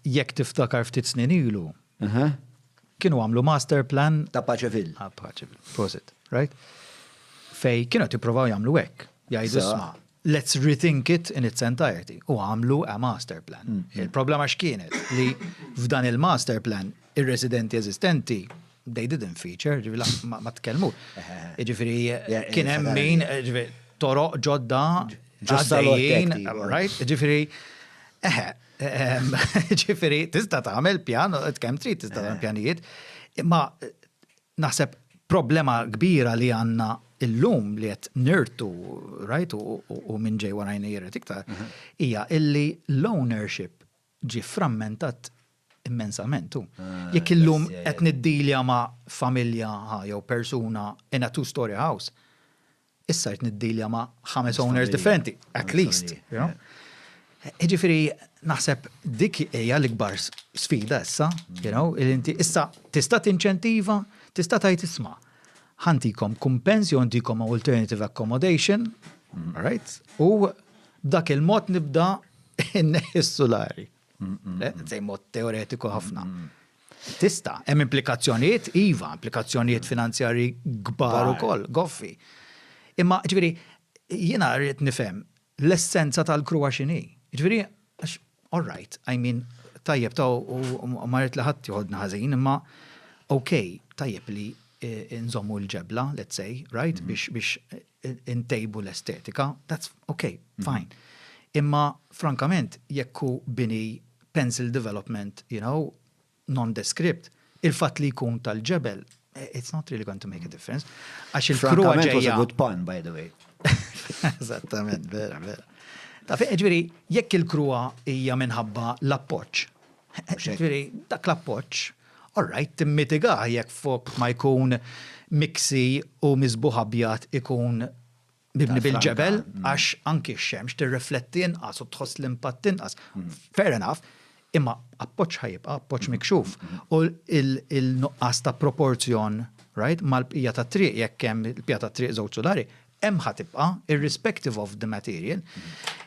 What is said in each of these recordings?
jekk tiftakar ftit snin ilu, kienu għamlu master plan. Ta' paċe fil. Ta' paċe fil. Prosit, right? Fej kienu tipprovaw jagħmlu hekk. Jgħidu sma. Let's rethink it in its entirety. U għamlu a master plan. Mm, mm. Il-problema x'kienet li f'dan il-master plan ir-residenti eżistenti they didn't feature, ġivila ma tkellmu. Ġifiri, kien hemm min toroq ġodda ġodda right? Ġifiri, eħe, Ġifieri tista' tagħmel pjan, kemm trid tista' tagħmel eh. pjanijiet, imma naħseb problema kbira li għandna illum li qed nirtu, right, u minn ġej warajna jirret iktar, mhm. hija illi l-ownership ġi frammentat immensament tu. Ah, Jekk illum qed niddilja ma' familja jew persuna in a two-story house, issa qed niddilja ma' ħames owners differenti, at least. Jiġifieri naħseb dik hija l-ikbar sfida issa, li inti issa tista' tinċentiva, tista' tgħid isma', ħantikom kumpens jew ntikom alternative accommodation, right, u b'dak il-mod nibda nneħħi s-sulari. Zej mod teoretiku ħafna. Tista, hemm implikazzjonijiet, iva, implikazzjonijiet finanzjari kbar ukoll, goffi. Imma ġifieri jiena rrid nifhem l-essenza tal-kruwa x'inhi. Ġifieri għax all right, I mean tajjeb ta' u ma rrid li ħadd joħodna ħażin, imma ok, tajjeb li nżommu l-ġebla, let's say, right, biex intejbu l-estetika, that's ok, mhm. fine. Imma frankament, jekku bini pencil development, you know, non-descript, il-fat li jkun tal-ġebel, eh, it's not really going to make a difference. Għax il-kru għagħu. was a good pun, by the way. Eżattament, vera, vera. Ta' fi, ġviri, jekk il-kruwa hija minħabba l-appoċ. Ġviri, dak l-appoċ All right, timmitigah jekk fokk ma jkun miksi u miżbugħ abjad ikun mibni bil-ġebel għax anki x-xemx tirrifletti inqas u tħoss l-impatt inqas. Fair enough, imma appoġġ ħa jibqa' appoġġ mikxuf u l-nuqqas ta' proporzjon, right, mal-bqija tat-triq jekk hemm il-bqija tat-triq żewġ sulari, hemm ħa tibqa' irrespective of the material.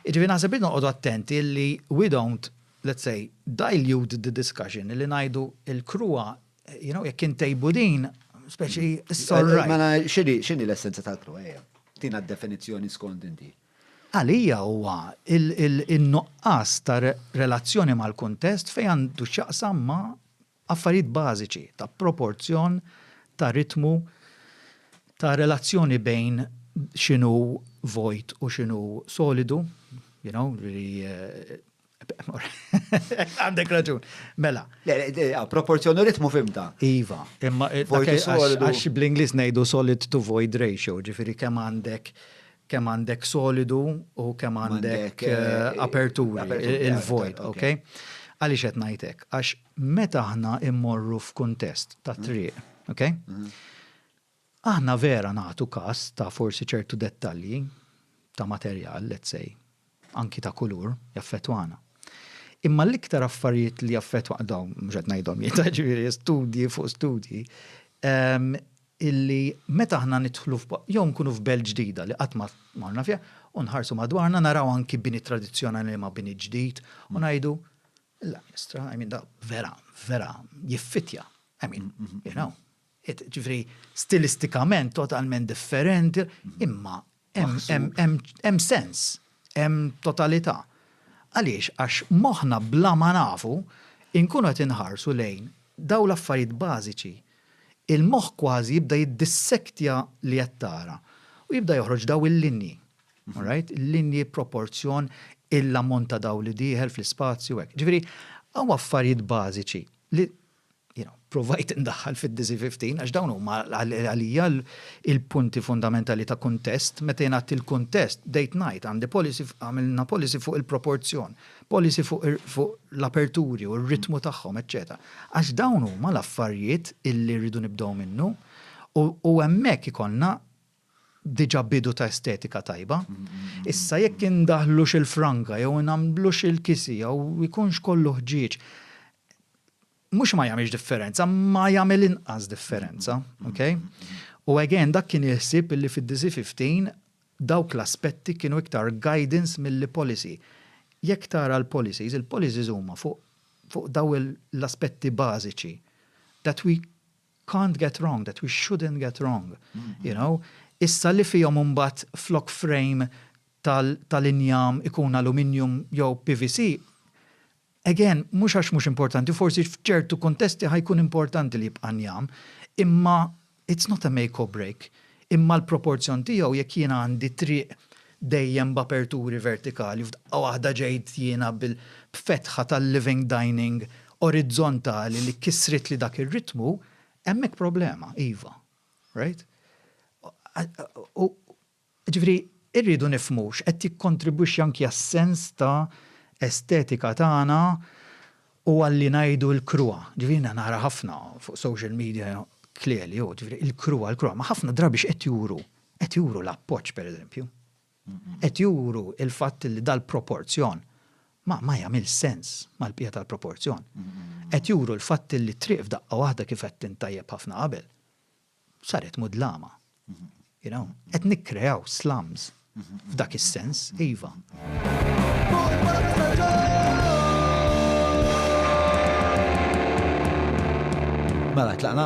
Jiġifieri naħseb irridu noqogħdu attenti li we don't let's say, dilute the discussion illi ngħidu l-kruha, you know, jekk intejbu din, speċi s-sorra. Mela x'inhi l-essenza tal-kruha hija? Tina d-definizzjoni skont inti. Għalija huwa il-nuqqas ta' relazzjoni mal-kuntest fejn għandu x'jaqsam ma' Affarijiet bażiċi ta' proporzjon, ta' ritmu, ta' relazzjoni bejn x'inhu vojt u x'inhu solidu, you know, li Għandek raġun. Mela. Proporzjon u ritmu fimta. Iva. Imma għax bl-Ingliż ngħidu solid to void ratio, ġifieri kemm għandek kemm għandek solidu u kemm għandek aperturi, il-vojt, ok? Għaliex qed ngħid hekk? Għax meta aħna immorru f'kuntest ta' triq, ok? Aħna vera nagħtu każ ta' forsi ċertu dettalji ta' materjal, let's say, anki ta' kulur, jaffettwana. Imma l-iktar affarijiet li jaffettwa dawn, mhux qed ngħidhom jien, ġifieri studji fuq studji, illi meta aħna nidħlu jew nkunu f'belt ġdida li qatt ma marna fiha u nħarsu madwarna naraw anki bini tradizzjonali ma' bini ġdid u ngħidu, Alla jestra, I mean, vera, vera, jiffittja, I mean, you know. Jiġifieri stilistikament totalment differenti, imma hemm sens, hemm totalità. Għaliex? Għax moħħna bla ma nafu nkunu qed inħarsu lejn dawn l-affarijiet bażiċi. Il-moħħ kważi jibda jiddissektja li qed tara u jibda joħroġ dawn il-linji. All right? Il-linji proporzjon il-ammont ta' dawl li dieħel fl-ispazju hekk. Jiġifieri hawn affarijiet bażiċi li Jiena provajt indaħħal fid-DC 15 għax dawn huma għalija l-punti fundamentali ta' kuntest. Meta jien għedt il-kuntest, bdejt ngħid għandi policy, għamilna policy fuq il-proporzjon, policy fuq l-aperturi u r-ritmu tagħhom, eċċetera. Għax dawn huma l-affarijiet illi rridu nibdew minnu u hemmhekk ikollna diġà bidu ta' estetika tajba. Issa jekk indaħħlux il-franga jew nagħmlux il-kisi jew ikunx kollu ħġieġ, mhux ma jagħmilx differenza, ma jagħmel inqas differenza, ok? U again dak kien il-ħsieb illi fid-DC 15 dawk l-aspetti kienu iktar guidance milli policy. Jekk tara l-policies, il-policies huma fuq dawn l-aspetti bażiċi that we can't get wrong, that we shouldn't get wrong, you know, issa li fihom imbagħad flok frame tal-injam ikun aluminium jew PVC, again, mhux għax mhux importanti, forsi f'ċertu kuntesti ħajkun importanti li jibqa' njam, imma it's not a make or break. Imma l-proporzjon tiegħu jekk jiena għandi triq dejjem b'aperturi vertikali, f'daqqa waħda ġejt jiena b'fetħa tal-living dining orizzontali li kissritli dak ir-ritmu, hemmhekk problema, iva. Right? U ġifieri rridu nifhmu x'qed jikkontribwixxi anki għas-sens ta' estetika tagħna U għalli ngħidu l-krua, ġifieri jiena nara ħafna fuq social media klieli u ġifieri il-krua, il-krua, ma ħafna drabi x'qed juru? Qed juru l-appoġġ pereżempju. Qed juru l-fatt li dal-proporzjon ma ma jagħmilx sens mal-bqija tal-proporzjon. Qed juru l-fatt li t-triq f'daqqa waħda kif għedt int tajjeb ħafna qabel, saret mudlama. You know, qed nikkreaw slums f'dak is-sens, iva. Mela tlaqna.